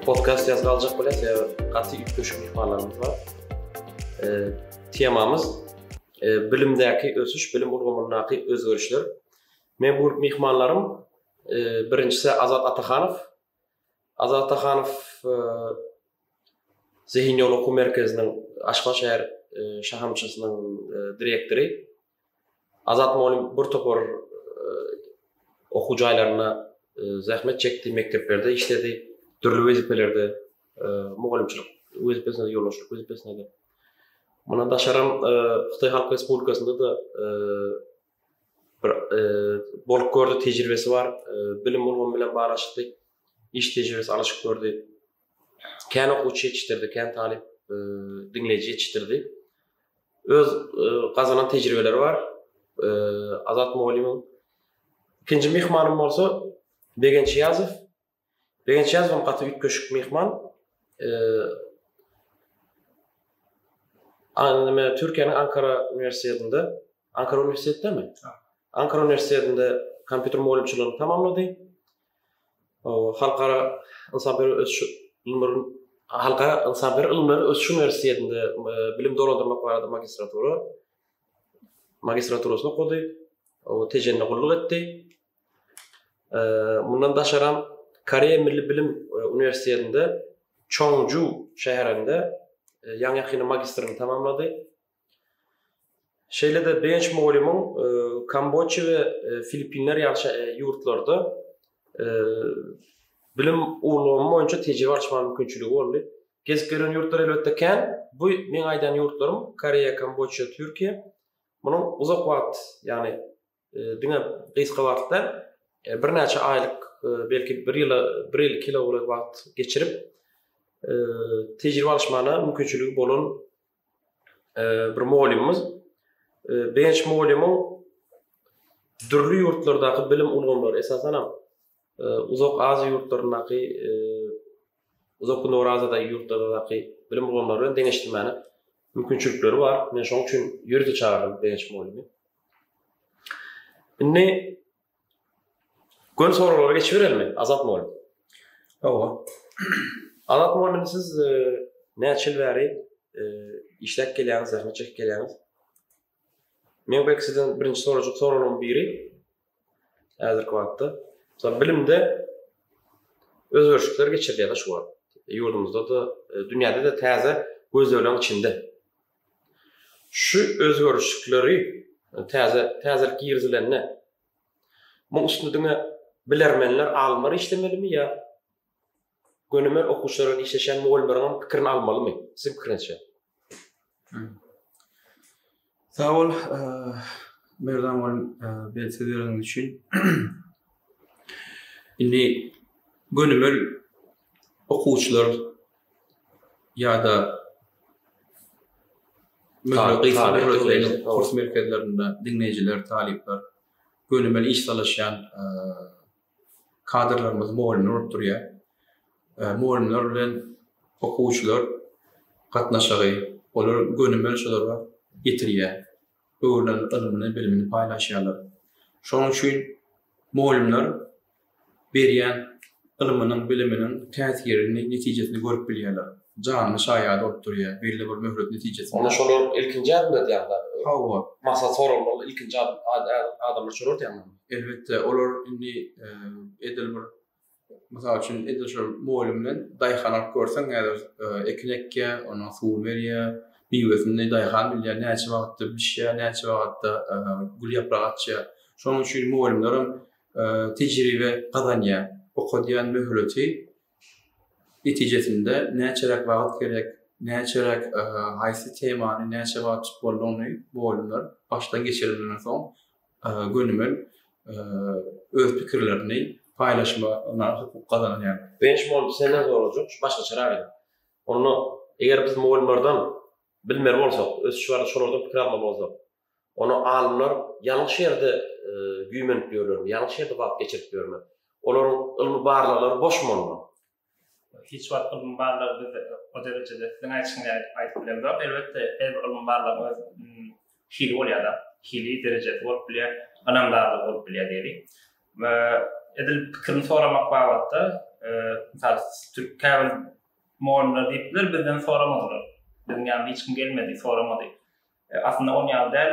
Podcast ýaz galjak bilen sebäbi gaty üýtgeşik myhmanlarymyz bar. Temamyz bilimdäki ösüş, bilim ulgamyndaky özgerişler. Men bu myhmanlarym birinjisi Azat Atahanow. Azat Atahanow Zehin ýol okuw merkeziniň Aşgabat şäher şahamçasynyň direktory. Azat mugallym bir topar okuw jaýlarynda zähmet çekdi, mekdeplerde işledi, dürli wezipelerde, mugallymçylyk wezipesinde, ýolbaşçylyk wezipesinde. Mundan daşaram Hytaý Halk Respublikasynda-da bir bolup gördi, tejribesi bar, bilim ulgamy bilen baglaşykly iş tejribesi alyşyp gördi. Kän okuwçy ýetişdirdi, kän talyp, diňleýji ýetişdirdi. Öz gazanan tejribeleri bar. Azat mugallymyň ikinji myhmanym bolsa Begenç Ýazow. Begenç Ýazow gaty üýtgeşik myhman. Anime Türkiýäniň Ankara uniwersitetinde, Ankara uniwersitetindemi? Ankara uniwersitetinde kompýuter mugallymçylygyny tamamlady. Halkara ynsanperwer ösüş Halkara ynsanperwer ylymlary ösüş uniwersitetinde bilim dolandyrmak barada magistratura magistraturasyny okady. O Tejende gulluk etdi. Mundan daşaram Koreýa Milli Bilim uniwersitetinde Çonju şäherinde ýaňy-ýakynda magistrini tamamlady. Şeýle-de Benç mugallymyň Kambodja we Filippinler ýaly ýurtlarda bilim ulgamy boýunça tejribe alyşmaga mümkinçiligi boldy. Gezip gören ýurtlar elbetde kän. Bu meň aýdan ýurtlarym Koreýa, Kambodja, Türkiýe. Munuň uzak wagt, ýagny Diňe gysga wagtda, birnäçe aýlyk, belki bir ýyla, bir ýyl, iki ýyla golaý wagt geçirip, tejribe alyşmana mümkinçiligi bolan bir mugallymymyz Begenç mugallymyň dürli ýurtlardaky bilim ulgamlary, esasanam Uzak Aziýa ýurtlaryndaky uzak gündogar Aziýadaky ýurtlardaky bilim ulgamlary bilen deňeşdirmäne mümkinçilikleri bar. Men şoň üçin ýörite çagyrdym begenç mugallymy. Indi göni soraglara geçiberelim. Azat mugallym. Hawa. Azat mugallym siz e, näçe ýyl bäri e, işläp gelýäňiz, zähmet çekip gelýäňiz? Meň belki sizden birinji sorajak soragym biri häzirki wagtda Mesela bilimde özgerişlikler geçirilýär-de şu wagt. Ýurdumyzda-da, e, dünýäde-de täze gözlegleriň içinde. Şu özgerişlikleri e, täze täzelik girizilende muň üstünde diňe bilermenler, alymlar işlemelimi ýa Gönümel okuwçylar bilen işleşýän mugallymlaryňam pikirini almalymy? Siziň pikiriňizçe? Sag bol, Merdan mugallym, beýle söz bereniňiz üçin. Indi gönümel okuwçylar ýa-da kurs merkezlerinde diňleýjiler, talyplar gönümel iş salyşýan Kadrlarymyzy mugallymlar bolup durýar. Mugallymlar bilen okuwçylar gatnaşygy, olar gönümel şulara ýetirýär. Öwrülen ylmyny, bilimini paýlaşýarlar. Şonuň üçin mugallymlar berýän ylmynyň, biliminiň täsirini, netijesini görüp bilýärler. Janly şaýady bolup durýar belli bir möhlet netijesinde. Onda şolar ilkinji ädim edýärler. Hawa. Maksat soraglar ilkinji adamlar şolar edýärmi? Elbetde, olar indi edil bir mysal üçin edil şol moýlum bilen daýhan alyp görseň, häzir e, ekin ekýä, ona suw berýä, miwesini daýhan bilýär, näçe wagtda bişýä, näçe wagtda e, gül ýaprak açýa. Şonuň üçin moýlumlar hem e, tejribe gazanýar. Okadýan möhleti netijesinde näçeräk wagt gerek, näçeräk haýsy temany näçe wagt tutmalydygyny bu alymlar başdan geçireninden soň gönümel öz pikirlerini paýlaşmagyna hukuk gazanýarlar. Bençmol senden sorajak, şu başgaçarak ýa. Onda eger biz mugallymlardan bilmeli bolsak, ösüş barada şolardan pikir almaly bolsak, Ony alymlar ýalňyş ýerde güýmenip ýörlermi, ýalňyş ýerde wagt geçirip ýörmi? Olaryň ylmy barlaglary boş bolma. Hiç wagt ylmy barlag bizde o derejede siziň aýdyşyňyz ýaly aýdyp bilemzok. Elbetde, her bir ylmy barlagyň öz hili bolýar-da, hili, derejesi bolup bilýär, ynamdarlygy bolup bilýär diýeliň. Edil pikirini soramak babatda, mysal, türk käbir mugallymlar diýipdiler, bizden soramadylar. Biziň ýanyma hiç kim gelmedi, soramady. Aslynda on ýaly däl,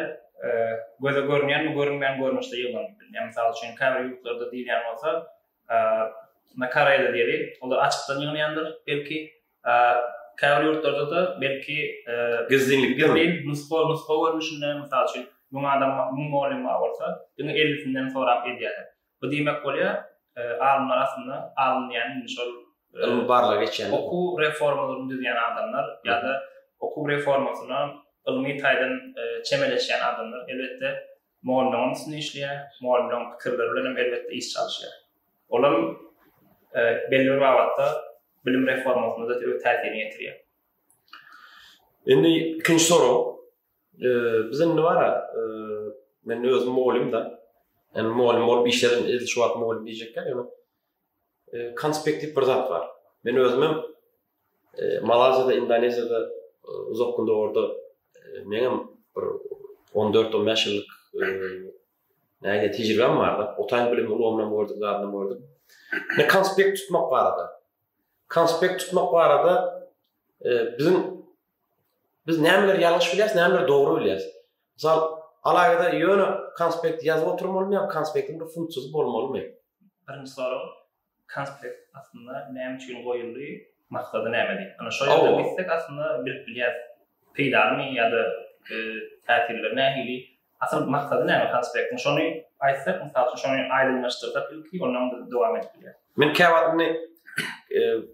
göze görünýän we görünmeýän görnüşde ýyglanyp bilner. Mysal üçin, käbir ýurtlarda diýilýän bolsa, na Koreýada diýeli, olar açykdan ýygnanýandyr, belki, käbir ýurtlarda-da, belki, gizlinlikde, gizlin, nusga, nusga görnüşinde, mysal üçin, müň adam, müň mugallym bar bolsa, diňe ellisinden sorap edýärler. Bu diýmek bolýar, alymlar aslynda, alym diýýän indi şol ylmy barlagy geçýän, okuw reformalaryny düzýän adamlar ýa-da okuw reformasyna ylmy taýdan çemeleşýän adamlar, elbetde, mugallymlaryň üstünde işleýär, mugallymlaryň pikirleri bilen hem elbetde iş çalyşýar. Ol hem belli bir babatda bilim reformasyna-da öz täsirini ýetirýär. Indi ikinji sorag, Biz indi bara men özüm mugallym da. Yani mugallym bolup işledim. Edil şu wagt mugallym diýjekler ýöne konspektiw bir zat bar. Men özüm hem Malaziýada, Indoneziýada uzak gün dogurda men hem bir 14-15 ýyllyk näge tejribem bar da. Otaýyn bilim ulgamyndan gördük, zadyndan gördük. Ne konspekt tutmak barada. Konspekt tutmak barada biziň Biz nämeleri ýalňyş bilýäris, nämeleri dogry bilýäris. Mysal, alaýada ýöne konspekt ýazyp oturmalymy ýa konspektiň bir funksiýasy bolmalymy? Birinji sorag, konspekt aslynda näme üçin goýuldy, maksady nämedi? Ana şol ýerden gitsek aslynda bilip bilýäris. Peýdalymy ýa-da täsirleri nähili? Asyl maksady näme konspektiň? Şony aýtsak, mysal üçin şony aýdyňlaşdyrsak ilki, ondan biz dowam edip bilýäris. Men käwagt indi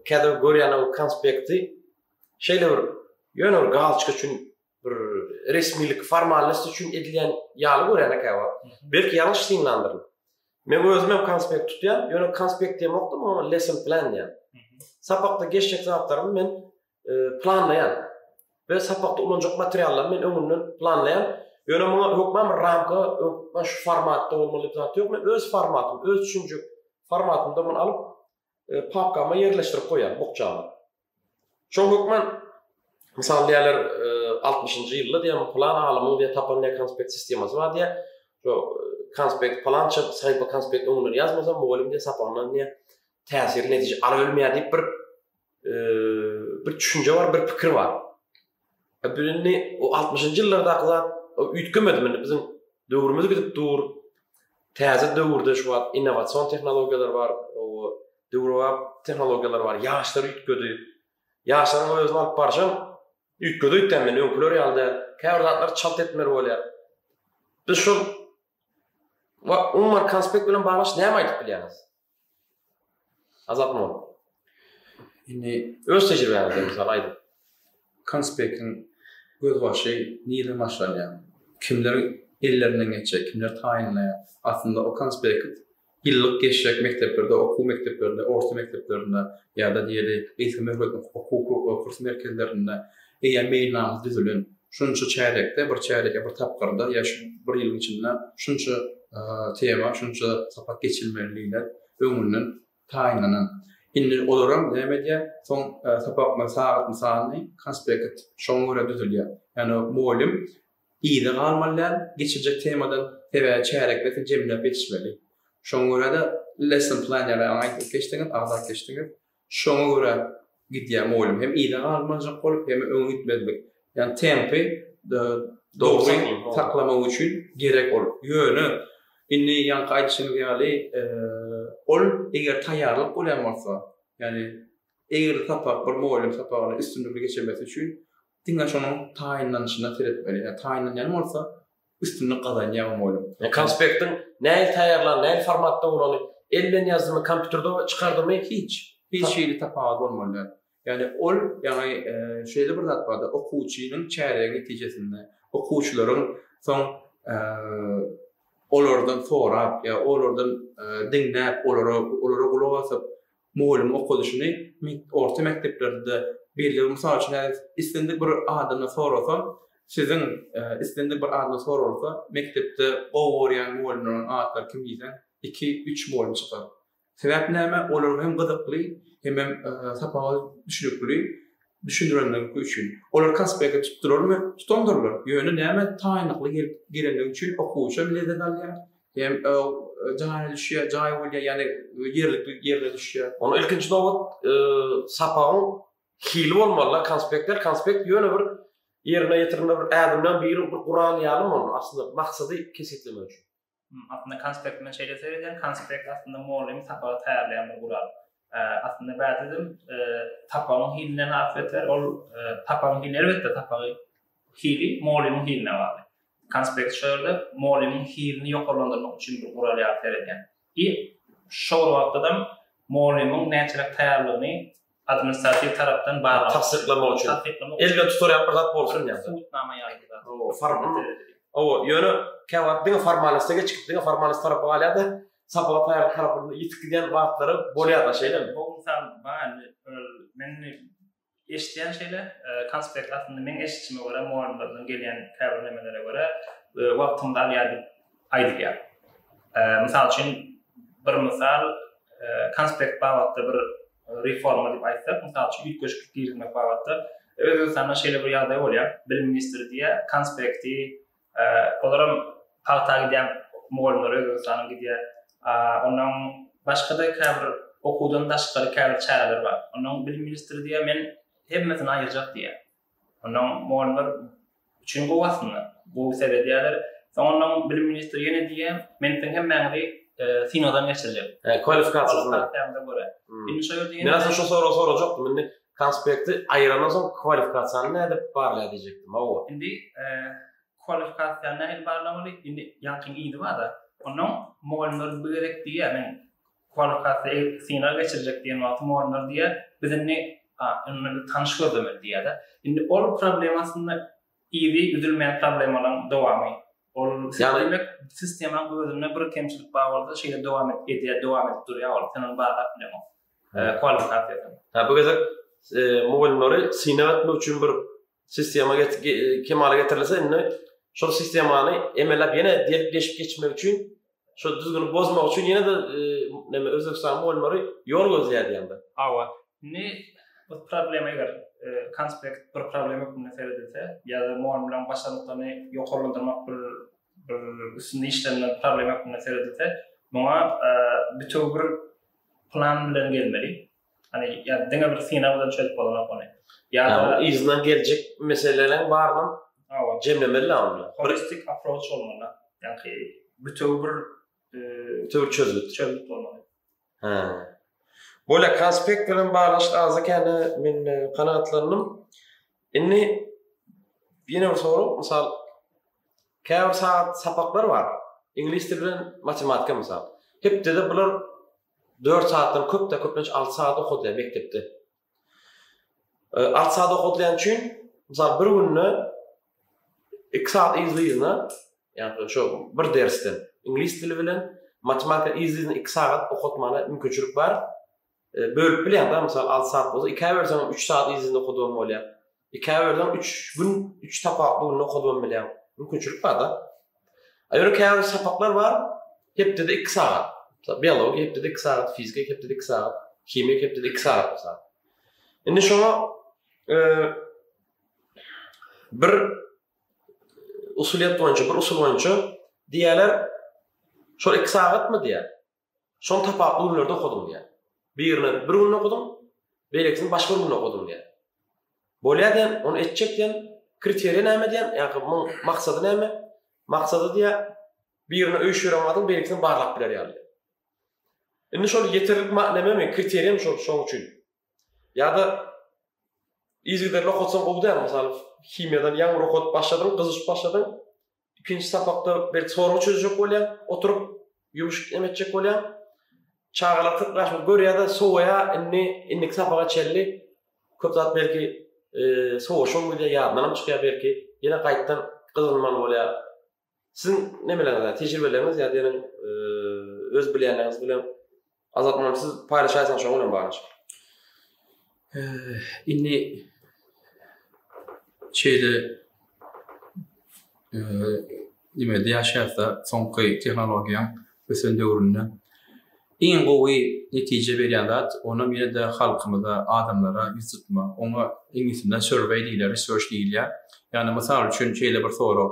käte görýän ol konspekti Şeýle bir ýöne bir galçyk üçin bir resmilik formalnost üçin edilýän ýaly görýän ekäwa. Belki ýalňyş synlandyr. Men özüm hem konspekt tutýan, ýöne konspekt diýen wagtym o lesson plan diýen. Sapakda geçjek zatlarymy men e, planlaýan. We sapakda ulanjak materiallarmy men öňünden planlaýan. Ýöne muňa hökman bir ramka, şu formatda bolmaly diýip zat ýok. Men öz formatym, öz düşünjek formatymda muny alyp, papkama ýerleşdirip goýýar bukjany. Şol hökman Mysal diýerler 60-njy e, ýylda diýen plan alymyň diýen tapan diýen konspekt sistemasy bar diýen. Şo e, konspekt plan çyk, saýpa konspekt öňünden ýazmasa mugallym diýen sapagyndan diýen täsir netije alyp bilmeýär diýip bir e, bir düşünje bar, bir pikir bar. Biz indi o altmyşynjy ýyllardaky zat üýtgemedi. Indi biziň döwrümiz gidip dur. Täze döwürde şu wagt innowasion tehnologiýalar bar, döwrebap tehnologiýalar bar. Ýaşlar üýtgedi. Ýaşlaryň özüni alyp barşy hem üýtgedi öýtýän men, öňküler ýaly däl. Käbir zatlar çalt etmeli bolýar. Biz şol umuman konspekt bilen baglaşyk näme aýdyp bilýäňiz? Azat Mol. Indi öz tejribäňizden mysal aýdyň. Konspektiň gözbaşy nireden başlanýar? Kimler ellerinden geçýär, kimler taýynlaýar? Aslynda o konspekt ýyllyk geçjek mekdeplerde, okuw mekdeplerinde, orta mekdeplerinde ýa-da diýeli gysga möhletli okuw kurs merkezlerinde Eýýäm meýilnama düzülen. Şunça çärýekde, bir çärýek ýa bir tapgyrda ýa şu bir ýylyň içinde şunça tema, şunça sapak geçilmeli diýlen öňünden taýynlanan. Indi olaram näme edýär? Soň sapakma sagatny sany, konspekt şoňa görä düzülýär. Ýagny mugallym yza galmaly däl geçiljek temadan, sebäbi çärýekde siz jemläp ýetişmeli. Şoňa görä-de lesson plan ýaly aňa aýdyp geçdiňiz, agzap geçdiňiz. Şoňa görä gidýän oýlum hem yza galmajak bolup, hem-ä öňe gitmezlik. Ýagny tempy dogry saklamak üçin gerek ol. Ýöne indi ýaňky aýdyşymyz ýaly, ol eger taýýarlyk bolýan bolsa, ýagny eger sapak bir oýlum sapagyny üstünlikli geçirmesi üçin diňe şonuň taýynlanyşyna seretmeli. Ýa taýynlanýan bolsa, üstünlik gazanýar mugalym. Konspektiň näil taýýarlan, näil formatda bolany, el bilen ýazdymy, kompýuterde çykardymy hiç. Hiç hili tapawut bolmaly däl. Ýagny ol, ýagny şeýle bir zat bardy, okuwçynyň çäregi netijesinde, okuwçylaryň soň olardan sorap ýa olardan diňläp, olara gulak asyp, Mugallym okadyşyny orta mekdeplerde belli mysal üçin häzir islendik bir adamdan sorasa, siziň islendik bir adamdan soralsa, mekdepde gowy görýän mugallymlaryň atlary kim diýseň, iki, üç mugallym çykar. Sebäp näme? Olar hem gyzykly, hemem sapaga düşnükli, Düşündirenleriňki üçin. Olar konspekti tutdurarmy? Tutandyrlar. Ýöne näme taýynlykly gelip gelendigi üçin okuwçy hem lezzet alýar, hem jana düşýär, jaý bolýar, ýagny ýerlikli ýerine düşýär. Onda ilkinji nobat sapagyň hili bolmaly-da, konspektler. Konspekt ýöne bir ýerine ýetirilmeli bir ädimden biri, bir gural ýalymy ony aslynda maksady kesgitlemek üçin? Aslynda konspekt men şeýle seredýän, konspekt aslynda mugallym sapagy taýýarlaýan bir gural. Aslynda bädedim sapagyň hiline has beter, ol sapagyň hiline elbetde sapagy hili mugallymyň hiline bagly. Konspekt şu ýerde mugallymyň hilini ýokarlandyrmak üçin bir gural ýaly seredýän. I şol wagtda-da mugallymyň näçeräk taýýarlygyny administratiw tarapdan barlag tassyklamak üçin tassyklamak elden tutarýan bir zat bolsun ýa subutnama ýaly bir formal owa ýöne käwagt diňe formalnosta geçip diňe formalnost tarapa galýar-da sapaga taýýarlyk tarapynda ýitip gidýän wagtlary bolýar-da şeýlemi bu mysal bar men eşitýän şeýle konspekt aslynda meň eşitişime görä mugallimlerden gelýän käbir nemelere görä wagtymyzy alýar diýip aýdylýar. Mysal üçin, bir mysal, konspekt babatda bir reforma diýip aýtsak, mysal üçin, üýtgeşiklik girizmek babatda Özbegistanda şeýle bir ýagdaý bolýar, bilim ministri diýýär, konspekti, olaram pagta gidýän mugallymlar Özbegistanyň gidýär. Onnoň başga-da käbir okuwdan daşgary käbir çäreler bar. Onnoň bilim ministri diýýär, men hemmesini aýyrjak diýýär. Ondan mugallymlar üçin gowy aslynda. Gowy seredýärler. Soň ondan bilim ministri ýene diýýär, Men siziň hemmäňizi synagdan geçirjek. Kwalifikasiýasyna. Indi şo ýerde ýene. Men aslynda şu soragy sorajakdym. Indi konspekti aýyrandan soň kwalifikasiýany nädip barlaýar diýjekdim. Hawa. Indi kwalifikasiýany nähili barlamaly? Indi ýagtyň yzy bar-da. Ondan mugallymlar bu gezek diýýär, Men Holokaste synag geçirjek diýen wagtym olanlar diýýär, biz indi indi tanyş gözlemeli diýýär-de. Indi ol problema aslynda yzy üzülmeýän problemalaryň dowamy. Ol diýmek, sistemanyň özünde bir kemçilik bar bolsa, şeýle dowam edýär, dowam edip durýar ol. Sen ony barlap bileňok. Kwalifikasiýasyny. Hä, bu gezek mugallymlary synag etmek üçin bir Sistema kemala getirilse indi şol sistemany emelläp ýene diýip geçip geçmek üçin şol düzgüni bozmak üçin ýene de e, näme Özbegistan bolmary ýol gözleýär ýanda. Hawa. Indi bu problema eger e, konspekt bir problema hökmünde seredilse ýa-da mugalym bilen başarnyklaryny ýokarlandyrmak bir bir üstünde işlenilen problema hökmünde seredilse, muňa e, bütew bir plan bilen gelmeli. Hani ya diňe bir synag bilen çözüp bolanok ony. Ya da yzyna geljek meseleleriň baryny jemlemeli lazymdy. Holistik approach bolmaly. Ýagny bütew bir e, bütew çözgüt çözgüt bolmaly. Ha. Böyle konspekt bilen baglaşyk azda kände men e, kanagatlandym. Indi ýene bir sorag, mysal käbir saat sapaklar bar. Iňlis dili bilen matematika mysal. Hepdede bular Dört saatdan köp-de köplenç alty saat okadýar mekdepde. Alty saat okadýan üçin, mysal bir günde iki saat yzly-yzyna, ýagny şo bir dersden iňlis dili bilen matematika yzly-yzyna iki saat okatmagyna mümkinçilik bar. Bölüp bilýäň-da, mysal alty saat bolsa ikä bölseňem üç saat yzly-yzyna okadygan bolýar. Käbirler üç gün, üç sapakly günde okady hem bilýär. Mümkinçilik bar-da. A ýöne käbir sapaklar bar, hepdede iki sagat. Mysal, biologiýa hepdede iki sagat, fizika hepdede iki sagat, himiýa hepdede iki sagat mysal. Indi şoňa bir usulyýet boýunça, bir usul boýunça diýýärler, şol iki sagatmy diýýär. Şony tapawutly günlerde okadym diýýär. Birini bir günde okadym, beýlekisini başga bir günde okadym diýýär. Bolýar diýen, ony etjek diýen, kriteriýa näme diýen, ýa-da muň maksady näme? Maksady diýýär, birini öýşüp ýören wagtyň beýlekisini barlap biler ýaly. Indi şol ýeterlik näme, kriteriýam şol, şoň üçin. Ýa-da yzygiderli okatsaň gowy däl, mysal, himiýadan ýaňy bir okadyp başladyň, gyzyşyp başladyň, Ikinji sapakda bir sorag çözjek bolýar, oturyp ýumşuk em etjek bolýar. Çagalar kyrk ýaşyny görýär-de, sowaýar, indi indiki sapaga çenli köp zat belki e, sowaşan bolýar, ýadyndan hem çykýar belki, ýene gaýtdan gyzgynmaly bolýar. Siziň nemeleriniz, tejribeleriňiz ýa diýen e, öz bilýänleriniz bilen Azat muny siz paýlaşaýsaňyz şoň bilen baglanyşyp. Indi şeýle nimede ýaşaýarsa soňky tehnologiýaň ösen döwründe iň gowy netije berýän zat onam ýene-de halkymyza, adamlara ýüz tutmak. Oňa iňlisçesinde survey diýilýär, research diýilýär. Ýagny mysal üçin şeýle bir sorag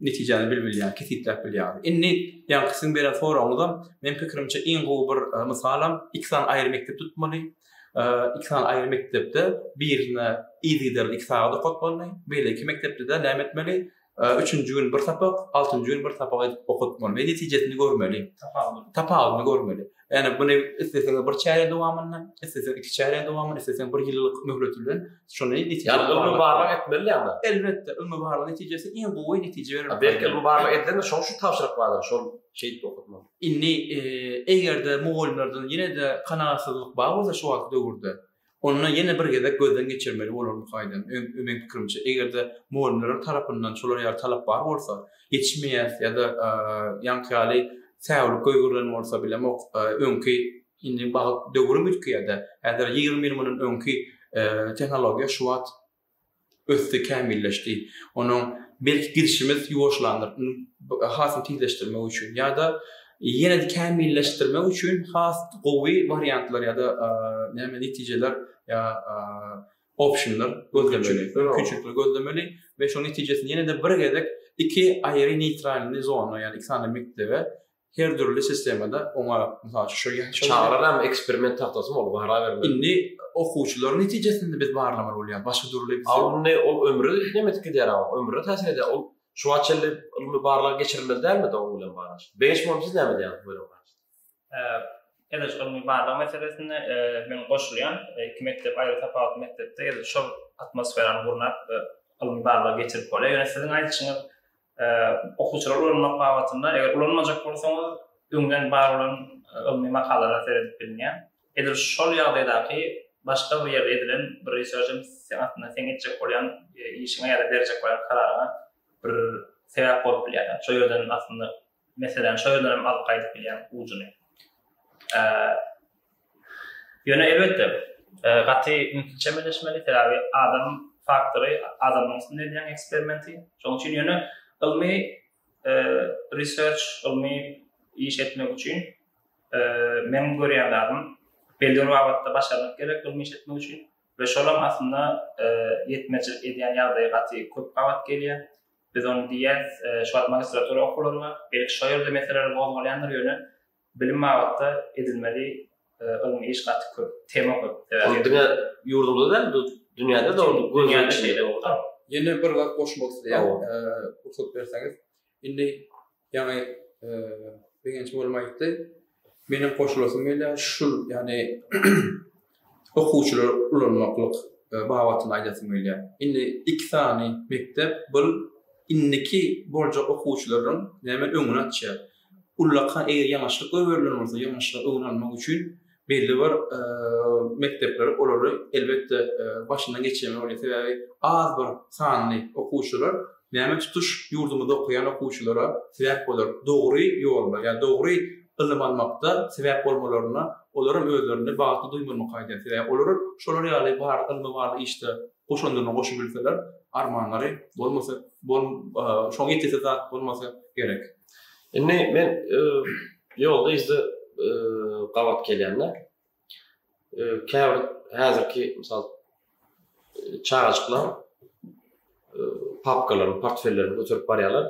netijäni bilip bilýär, kesgitläp bilýär. Indi ýaňky siziň beren soragyňyzam, meniň pikirimçe, iň gowy bir mysalam, iki sany aýry mekdep tutmaly. Iki sany aýry mekdepde birine yzygiderli iki sagat okatmaly, beýleki mekdepde-de näme etmeli, üçünji gün bir sapak, altynjy gün bir sapak edip okatmaly we netijesini görmeli, tapawudyny görmeli. Ýani muny isleseniň bir çärýek dowamynda, isleseniň iki çärýek dowamynda, isleseniň bir ýyllyk möhlet bilen şuny netije Ýani ylmy barlag etmeli ýa-da. Elbetde, ylmy barlag netijesi iň gowy netije berer. Belki ylmy barlag edilende şoň şu tabşyryk bardyr, şol şeýdip okatmaly. Indi eger-de mugallymlardan ýene-de kanagatsyzlyk bar bolsa şu wagtky döwürde, Onda ýene bir gezek gözden geçirmeli bolar bu kaýdany. Öň, meň pikirimçe, eger-de mugallymlaryň tarapyndan şolar ýaly talap bar bolsa, ýetişmeýäs ýa-da ýaňky ýaly säwlik goýgerilen bolsa, bilemok, öňki, indi wagt, döwrüm üýtgeýär-dä, häzir ýigrimi ýyl mundan öňki tehnologiýa şu wagt ösdi, kämilleşdi. Onuň belki gidişimiz ýuwaşlandyr, ony has-da tizleşdirmek üçin ýa-da ýene-de kämilleşdirmek üçin has gowy wariantlar ýa-da näme netijeler ýa optionlar gözlemeli, mümkinçilikleri gözlemeli we şonuň netijesinde ýene-de bir gezek iki aýry neýtralny zona, ýagny iki sany mekdebe her dürli sistemada oňa mysal şu şol ýaly çagalar eksperiment tagtasy bolup gara bermeli. Indi okuwçylar netijesinde biz barlamaly bolýar. Başga dürli alymny ol ömri näme etip gidýär ama ömrüne täsir edýär. Ol şu wagt çenli ylmy barlag geçirilmeli dälmi de oň bilen barlag? Beýik muny siz näme diýýäňiz bu ýere? Edil ylmy barlag meselesinde men goşulýan iki mekdep aýry tapawutly mekdepde edil şol atmosferany gurnap ylmy barlag geçirip bolýar. Ýöne siziň aýdyşyňyz Okuwçylary ulanmak babatynda eger ulanmajak bolsaňyz, öňden bar bolan ylmy makalalara seredip bilinýär. Edil şol ýagdaýdaky başga bir ýerde edilen bir research hem seň aslynda seň etjek bolýan işiňe ýa-da berjek bolýan kararyňa bir sebäp bolup bilýär. Şol ýerden aslynda Meselem, şo ýerden hem alyp gaýdyp bilýäň ujuny. Ýöne elbetde, gaty ünsli çemeleşmeli, sebäbi adam faktory adamyň üstünde edýän eksperimenti. Şonuň üçin ýöne ylmy research, ylmy iş etmek üçin meniň görýän zadym belli bir babatda başarnyk gerek ylmy iş etmek üçin we şolam aslynda ýetmezçilik edýän ýagdaýy gaty köp gabat gelýär. Biz ony diýýäs, şu wagt magistratura okuwlary bar. Belki şo ýerde meseleler gozgalýandyr, ýöne bilim babatda edilmeli ylmy iş gaty köp, tema köp. Ol diňe ýurdumyzda däl, bu dünýäde de ol göz öňünde. Ýene bir zat goşmak isleýän, pursat berseňiz. Indi Ýaňy Begenç mugallym aýtdy. Meniň goşulasym gelýär, şul, ýagny okuwçylary ulanmaklyk e, babatynda aýdasym gelýär. Indi iki sany mekdep bu indiki boljak okuwçylaryň näme öňüni açýar. Ullaka eger ýanaşyk goýberilen bolsa, ýanaşyk öňüni almak üçin belli bir mekdepler olary elbetde başyndan geçirmeli bolýar. Sebäbi az bir sanly okuwçylar näme tutuş ýurdumyzda okaýan okuwçylara sebäp bolar. Dogry ýolda, ýa dogry ylym almakda sebäp bolmalaryna olaram özlerini bagtly duýmalymy kaýdýar. Sebäbi olar şolar ýaly bar ylmy bar işde goşandyny goşubilseler armanlary bolmasa bol şoň ýetesi zat bolmasa gerek. Indi men ýolda yzda gabat gelýände käbir häzirki mysal çagajyklar papkalaryny portfellerini göterip barýarlar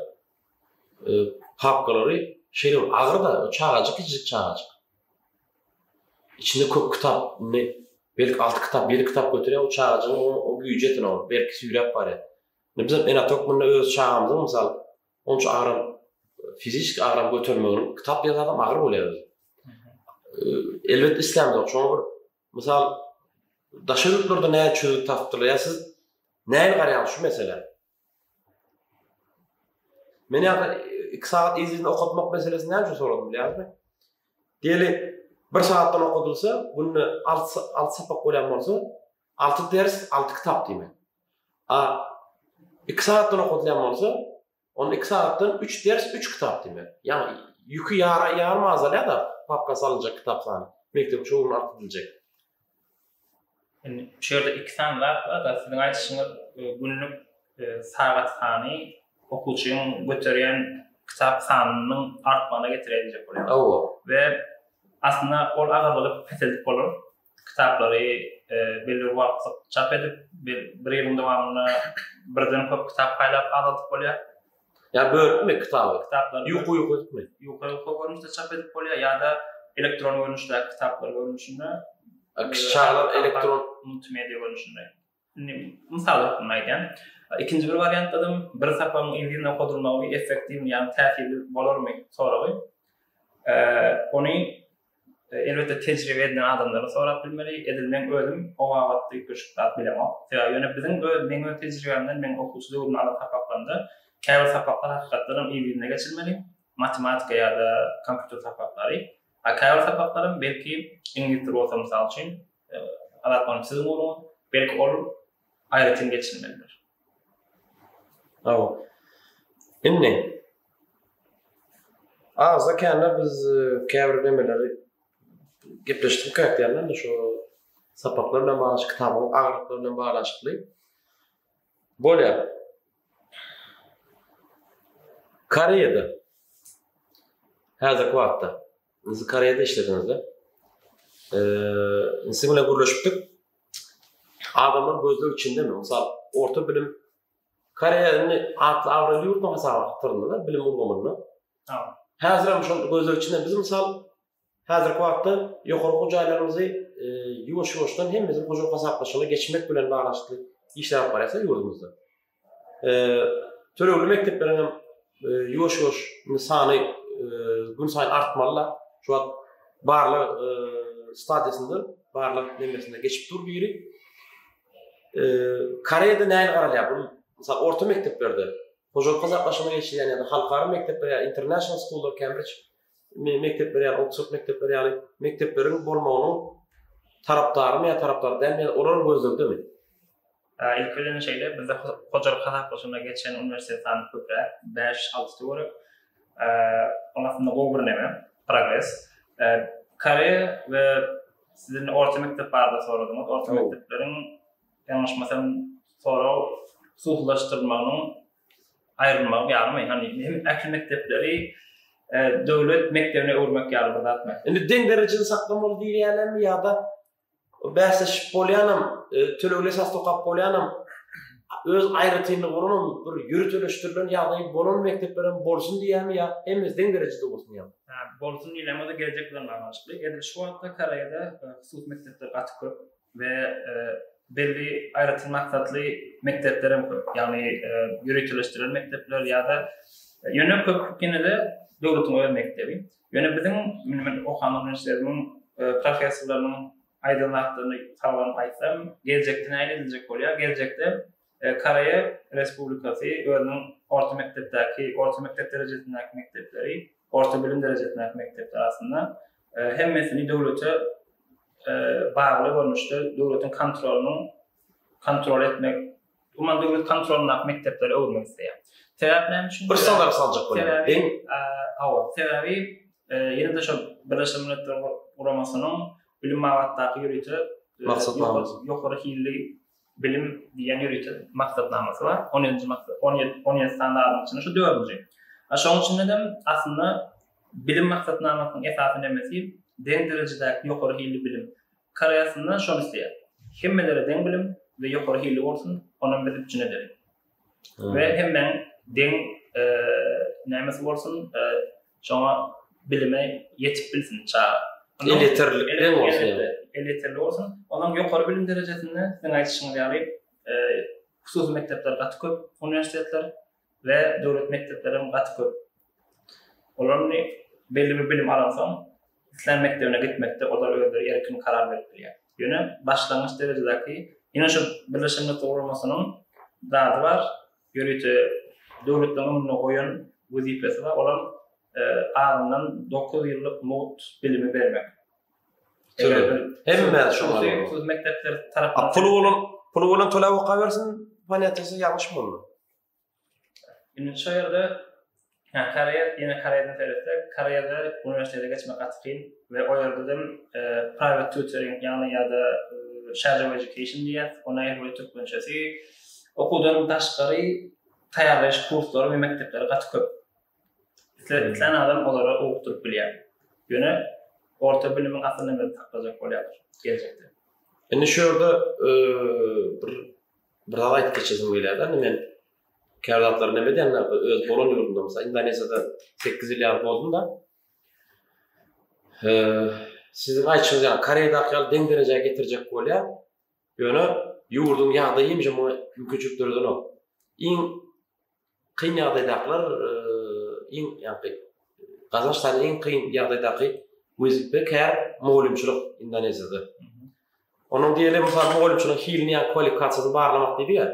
papkalary şeýle bir agyr-da, çagajyk, kiçijik çagajyk. Içinde köp kitap, indi belki alty kitap, ýedi kitap göterýär, o çagajygyň o güýji ýeten ol, berk süýräp barýar. Indi biz hem ene-ata hökmünde öz çagamyzyň, mysal, onça agram, fiziki agram götermeginiň kitap diýen zadam agyr bolýar özem. Elbetde islämiz ýok, şoňa bir mysal daşary ýurtlarda näçe çözgüt tapdylar, ýa siz näme garaýaňyz şu meselä? Men ýa-da iki sagat yzyny okatmak meselesini näme üçin soradym bilýäňizmi? Diýeli, bir sagatdan okadylsa, günde alty alty sapak bolýan bolsa, alty ders, alty kitap diýmek. A iki sagatdan okadylýan bolsa, onda iki sagatdan üç ders, üç kitap diýmek. Ýagny ýüki ýara ýarym azalýar-da, papka salynjak kitap sany, mekdep çuguryny alyp biljek. Indi şu ýerde iki sany zat bar, siziň aýdyşyňyz günlük sagat sany okuwçynyň göterýän kitap sanynyň artmagyna getirýär diýjek bolýaryn. Hawa. We aslynda ol agyrlygy peseldip bolar. Kitaplary belli bir wagtlyk çap edip, bir ýylyň dowamynda birden köp kitap paýlap azaldyp bolýar. Ýa bölüpmi kitaby, kitaplary? Ýuka ýuka etme. Ýuka ýuka görnüşde çap edip bolýar ýa-da elektron görnüşdäki kitaplar görnüşinde. Kiçi çagalar elektron. Multimedia görnüşinde. Indi mysal hökmünde aýdýan. Ikinji bir wariantdadam bir sapagyň yzyn okodylmagy effektiwmi ýagny täsirli bolarmy soragy. Ony Elbetde tejribe edinen adamlardan sorap bilmeli. Edil men özüm o babatda üýtgeşik zat bilemok. Sebäbi ýöne biziň öz meň öz tejribämden meň okuwçy döwrümde alan sapaklarymda käbir sapaklar hakykatdanam yz-yzyna geçilmeli, matematika ýa-da kompýuter sapaklary. A käbir sapaklaram belki iňlis dili bolsa mysal üçin, Azat manyň siziň ugruňyz, belki ol aýratyn geçilmelidir. Hawa. Indi Azda kände biz e, käbir nemeleri gepleşdik käkdänden şu sapaklar bilen bagly, kitabyň agyrlyklary bilen baglaşykly. Bolýar. Koreýada häzirki wagtda biz Koreýada işlediňizde eee siz bilen gürleşipdik. adamlar gözleg içindemi? Mysal, orta bilim Koreýa indi atly abraýly ýurt hasaba gyrylýar bilim ulgamynda. Häzir hem şol gözleg içinde biz mysal häzirki wagtda ýokary okuw jaýlarymyzy e, ýuwaş-ýuwaşdan hemmesi hojalyk hasaplaşygyna geçmek bilen baglaşykly işler alyp barýarsa ýurdumyzda. tölegli mekdepleriň hem ýuwaş-ýuwaş sany gün saýyn artmaly-la. Şu wagt barlag stadiýasynda, barlag nemesinde geçip dur biri. Koreýada nähili garalýar? Bu mysal orta mekdeplerde, hojalyk hasaplaşygyna geçilýän ýa-da halkara mekdepler, international school, Cambridge mekdepler ýaly, ortaçak mekdepler ýaly mekdepleriň bolmagynyň tarapdarymy ýa tarapdary dälmi, olar gözlegdemi? Ilk bilen şeýle, bizde hojalyk hasaplaşygyna geçen uniwersitet sany köpräk, bäş, alty töwerek. Ol aslynda gowy bir näme, progres. Koreýa we siziň orta mekdep barada soradyňyz, orta mekdepleriň ýalňyşmasam sorag suwlaşdyrmagynyň aýrylmagy ýalymy, ýagny hem ähli mekdepleri döwlet mekdebine öwürmek ýaly bir zatmy? Indi deň derejede saklamaly diýilýänemi ýa-da bäsleşip bolýanam, tölegli esasda okap bolýanam, öz aýratynlygy bolanam bir ýöriteleşdirilen ýagdaýy bolan mekdepler hem bolsun diýýämi ýa hemmesi deň derejede bolsun diýýämi? Hä, bolsun diýilýämi, o-da geljek bilen baglanyşykly. Edil şu wagtda Koreýada hususy mekdepler gaty köp. we belli aýratyn maksatly mekdepler hem köp, ýagny ýöriteleşdirilen mekdepler ýa-da ýöne köp ýene-de döwletiň öz mekdebi. Ýöne biziň men okan uniwersitetimiň professorlarynyň aýdan zatlaryny salgylanyp aýtsam, geljekde näme ediljek bolýar? Geljekde Koreýa Respublikasy özüniň orta mekdepdäki, orta mekdep derejesindäki mekdepleri, orta bilim derejesindäki mekdepleri aslynda hemmesini döwlete bagly görnüşde döwletiň kontrolynyň kontrol etmek, umuman döwlet kontrolyndaky mekdeplere öwürmek isleýär. Sebäp näme üçin? Bir sowal saljak bolýar. Deň? Hawa, sebäbi ýene-de şol Birleşen Milletler Guramasynyň bilim babatdaky ýörite maksatnama, ýokary hilli Bilim diýen ýörite maksatnamasy bar. On ýedinji maksat, on ýedi, on ýedi sany adyň içinde şu dördünji. A şoň üçin hem aslynda bilim maksatnamasynyň esasy nemesi deň derejedäki ýokary hilli bilim. Koreýa aslynda şony isleýär. Hemmelere deň bilim we ýokary hilli bolsun, onam biz üpjün ederin. we hemmäň deň nämesi bolsun, şoňa bilime ýetip bilsin çaga. Elýeterlilik bilen bolsun. Elýeterli bolsun. Onuň ýokary bilim derejesinde siziň aýdyşyňyz ýaly hususy mekdepler gaty köp, uniwersitetler we döwlet mekdepleri hem gaty köp. Olar indi belli bir bilim alansoň, islän mekdebine gitmekde olar özleri erkin karar berip bilýär. Ýöne başlangyç derejedäki, ýene şu Birleşen Milletler Guramasynyň zady bar, ýörite döwletleriň öňünde goýan wezipesi bar, olam azyndan dokuz ýyllyk mugt bilimi bermek. Hemme şu mekdepler tarapyndan. Puly bolan, puly bolan tölap okabersin, ponýatesi ýalňyşmy onda? Indi şu ýerde Koreýa, ýene Koreýadan seretsek, Koreýada uniwersitete geçmek gaty kyn we o ýerde hem e, private tutoring, ýagny ýa-da e, shadow education diýýär, ony we türkmençesi okuwdan daşgary taýýarlaýyş kurslary we mekdepleri gaty köp. Islen adam olara okduryp bilýär. Ýöne orta bilimiň asylyny men saklajak bolýar geljekde. Indi şu ýerde e, bir Bir zat aýdyp geçesim gelýär-de, indi men käbir zatlary neme diýenler, bu öz bolan ýurdumda, mysal Indoneziýada sekiz ýyl ýaly boldum-da. Siziň aýtşyňyz ýaly, Koreýadaky ýaly deň derejä getirjek bolýar. Ýöne ýurduň ýagdaýy hemişe muňa mümkinçilik döredenok. Iň Kyn ýagdaýdakylar iň ýagdaý gazanç sany iň kyn ýagdaýdaky wezipe kär mugallymçylyk Indoneziýada. Onuň diýeli mysal mugallymçylyk hilini ýa kwalifikasiýasyny barlamak diýdi ýa.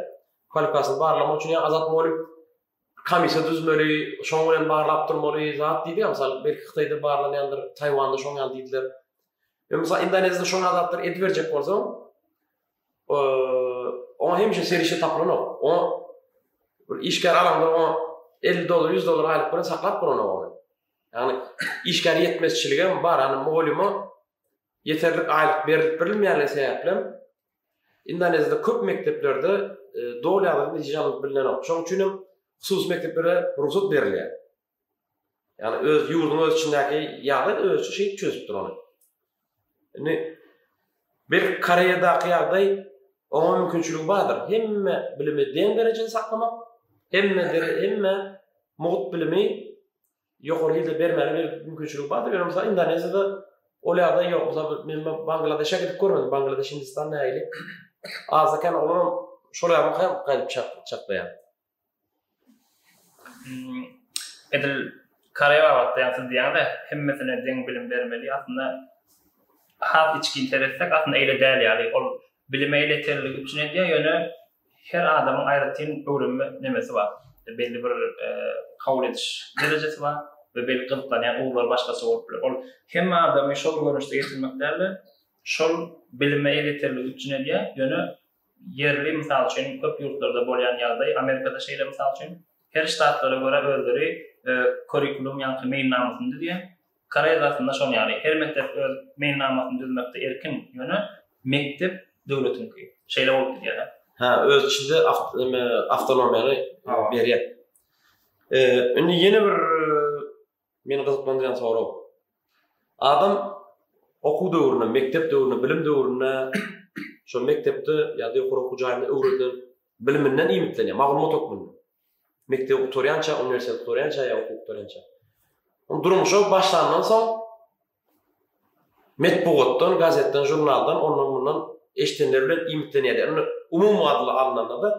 Kwalifikasiýasyny barlamak üçin ýa azat mugallym komissiýa düzmeli, şoň bilen barlap durmaly zat diýdi ýa mysal belki Hytaýda barlanýandyr, Taýwanda şoň ýaly diýdiler. Ýa mysal Indoneziýada şoň adatdyr ediberjek bolsaň, Oňa hemişe serişe tapylanok. O bir işgär alanda o 50 dollar, 100 dollar aýlyk bilen saklap duran ogany. Ýagny işgär ýetmezçiligi hem bar, ýagny mugallyma ýeterlik aýlyk berilip berilmeýänligi sebäpli Indoneziýada köp mekdeplerde e, doly ýagdaýda netije alyp bilnenok. Şonuň üçin hem hususy mekdeplere rugsat berilýär. Ýagny öz ýurduň öz içindäki ýagdaý özüçe şeýdip çözüp dur ony. Indi belki Koreýadaky ýagdaý oňa mümkinçiligi bardyr. Hemme bilimi deň derejede saklamak, hemme hemme mugt bilimi ýokary hilde bermäge mümkinçiligi bardyr. Ýöne mysal Indoneziýada ol ýagdaý ýok. Mysal men Bangladeşe gidip görmedim. Bangladeş Hindistan nähili? Azda-kän olaram şol ýagdaý gaýdyp çaklaýar. Hmm, edil Koreýa babatda ýa-da diýende hemmesine deň bilim bermeli. Aslynda has içgin seretsek, aslynda eýle däl ýaly. Ol bilim eýle terligi üçin edýär, ýöne her adamyň aýratyn öwrenme nemesi bar. Belli bir e, kabul ediş derejesi bar we belli gyzyklanýan ugurlar başgaça bolup biler. Ol hemme adamy şol görnüşde getirmek däl-de, şol bilime eýle terligi üçin edýär, ýöne Ýerli, mysal üçin, köp ýurtlarda bolýan ýagdaý, Amerikada şeýle, mysal üçin, her ştatlara görä özleri kurrikulum, ýaňky meýilnamasyny düzýär. Koreýadasynda şonuň ýaly, her mekdep öz meýilnamasyny düzmekde erkin, ýöne mekdep döwletiňki. Şeýle bolup gidýär. Hä, öz içinde awtonomiýany berýär. Indi ýene bir Meni gyzyklandyrýan sorag. Adam okuw döwründe, mekdep döwründe, bilim döwründe şol mekdepde ýa-da ýokary okuw jaýynda öwredilen biliminden iýmitlenýär, maglumat hökmünde. Mekdebi gutarýança, uniwersiteti gutarýança ýa okuwy gutarýança. Durmuşa başlandan soň metbugatdan, gazetden, žurnaldan, ondan-mundan eşidenleri bilen iýmitlenýärdi. Indi umumy adyla alnanda-da,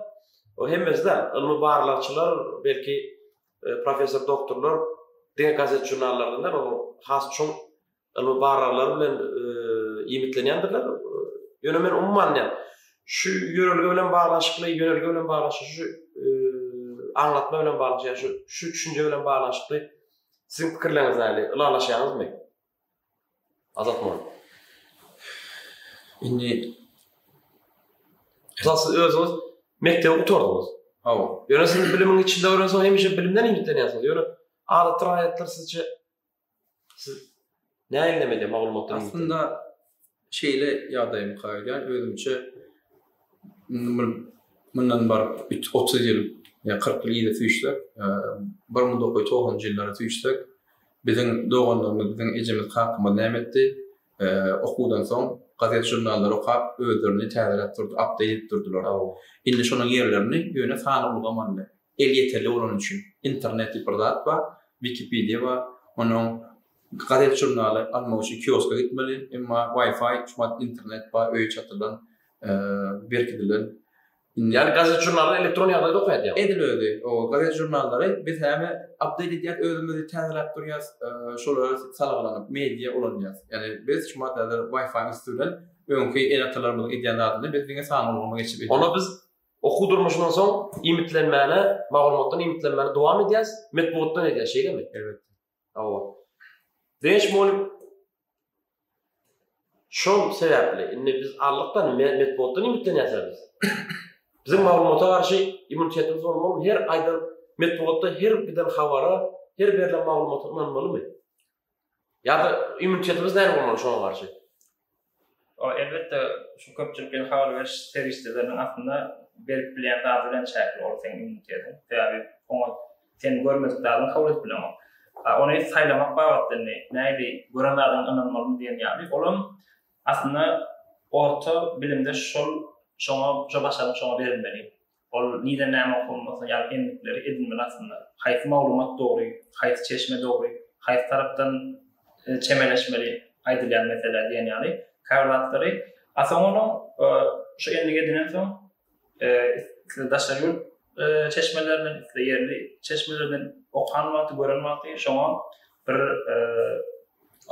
o hemmesi däl, ylmy barlagçylar, belki, professor doktorlar diňe gazet-žurnallardan däl, olar has çuň ylmy barlaglary bilen iýmitlenýändirler. Ýöne men umumy alnyňam, şu ýörelge bilen baglanyşykly, ýörelge bilen baglanyşykly, şu aňlatma bilen baglanyşykly, ýa-da şu düşünje bilen baglanyşykly Siziň pikirleriňiz näme? Ylalaşýaňyzmy? Azat Molla. Indi Mysal siz özüňiz mekdebi gutardyňyz. Hawa. Ýöne siz bilimiň içinde öwrenseň hemişe bilimden ümitlenýärsiňiz. Ýöne adatda raýatlar sizçe siz näme edemeli maglumatlar? Aslynda Şeýle ýagdaýa mykar edýän özümçe mundan baryp üç otuz ýyl ýa kyrk ýyl yza süýşsek, bir müň dokuz ýüz togsanynjy ýyllara süýşsek, biziň doganlarymyz, biziň ejemiz, kakamyz näme etdi? Okuwdan soň gazet-žurnallary okap, özlerini täzeläp durdy, update edip durdylar. Indi şonuň ýerlerini ýöne sanly ulgam aldy. Elýeterli bolany üçin. Internet diýip bir zat bar, Wikipedia bar. Onuň Gazet-žurnaly almak üçin kioska gitmeli, emma Wi-Fi, şumat internet bar, öýe çatylan, berkidilen. Ýagny gazet-žurnallar elektron ýagdaýda okaýardylar. Edil özi, o gazet-žurnallary biz häme update edýäs, özümizi täzeläp durýas, şolara salgylanyp media ulanýas. Ýagny biz şumat häzir Wi-Fi üsti bilen öňki ene-atalarymyzyň edýän zadyny biz diňe sanly ulgama geçip edýäs. Onda biz okuw durmuşyndan soň iýmitlenmäne, maglumatdan iýmitlenmäni dowam edýäs, metbugatdan edýäs, şeýlemi? Elbetde. Hawa. Beş mol Şol sebäpli indi biz anlykdan metbugatdan ümitlenýäs biz. Biziň maglumata garşy immunitetimiz bolmaly, her aýdan metbugatda her giden habara, her berlen maglumata ynanmalymy? Ýa-da immunitetimiz näme bolmaly şoňa garşy? Ol elbetde şu köpçülikleýin habar beriş serişdeleriniň aslynda berip bilýän zady bilen çäkli ol seň immunitetiň. Sebäbi oňa sen görmedik zadyňy kabul edip bilenok. A ony saýlamak babatda indi nähili gören zadyňa ynanmalymy diýen ýaly olam aslynda orta bilimde şol şoňa şo başarnyk şoňa berilmeli. Ol nide näme okunmasy ýaly endikleri edinmeli aslynda. Haýsy maglumat dogry, haýsy çeşme dogry, haýsy tarapdan çemeleşmeli aýdylýan meselä diýen ýaly käbir zatlary. A soň onuň şu endigi edinensoň isle daşary ýurt çeşmelerinden, isle ýerli çeşmelerden okan wagty, gören wagty şoňa bir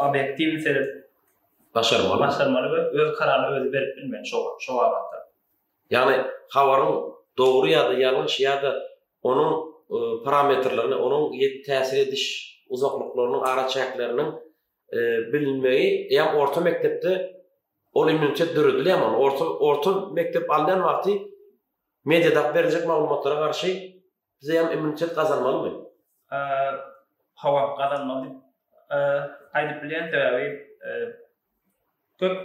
obýektiwni seredip başarmaly, başarmaly we öz kararyny özi berip bilmeli şo wagtda. Ýagny habaryň dogry ýa-da ýalňyş ýa-da onuň parametrlerini, onuň täsir ediş uzaklyklarynyň araçäkleriniň bilinmegi, eýýäm orta mekdepde ol immunitet döredilýärmi? Ony orta mekdep alýan wagty mediada berjek maglumatlara garşy Bizem immunitet gazanmalymy? Hawa, gazanmaly diýip aýdyp bilýän. Sebäbi köp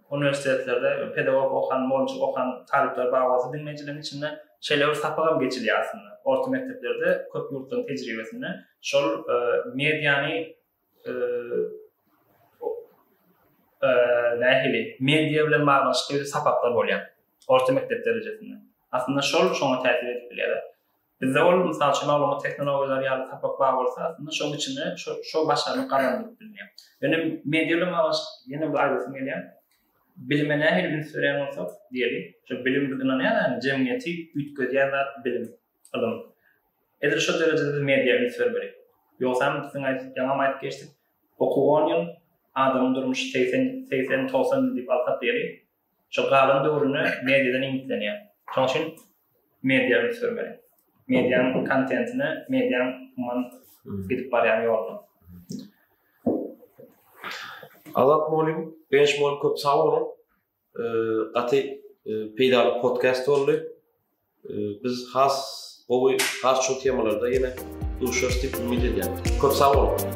uniwersitetlerde pedagog okan, mugallymçylyk okan talyplar bar bolsa, diňleýjileriň içinde şeýle bir sapagam geçilýär aslynda. Orta mekdeplerde köp ýurtlaryň tejribesinde şol mediany nähili media bilen baglanyşykly sapaklar bolýar orta mekdep derejesinde. Aslynda şol şoňa täsir edip bilýär. Bizde ol mysal üçin maglumat tehnologiýalary ýaly sapak bar bolsa, aslynda şoň içinde şo şo başarnyk gazanylyp bilner. Ýöne media bilen baglanyşykly ýene bir aýdasym gelýär. Bilime nähili üns berýän bolsak, diýeli, şu bilim biz ynanýarys, jemgyýeti üýtgedýän zat bilim. Ylym. Edil şol derejede biz mediýa üns bermeli. Ýogsam biz diňe aýdyp, ýaňam aýdyp geçdik, okuw on ýyl, adamyň durmuşy segsen, segsen, togsan ýyl diýip alsak ýeri, şol galan döwrüne mediýadan iýmitlenýär. Şonuň üçin mediýa üns bermeli. Mediýanyň kontentine, mediýanyň umuman gidip barýan ýoluna. Azat mugallym, Benşmol köp sag boluň. Gaty peýdaly podcast boldy. Biz has gowy, has çuň temalarda ýene duşarys diýip umyt edýän. Köp sag boluň.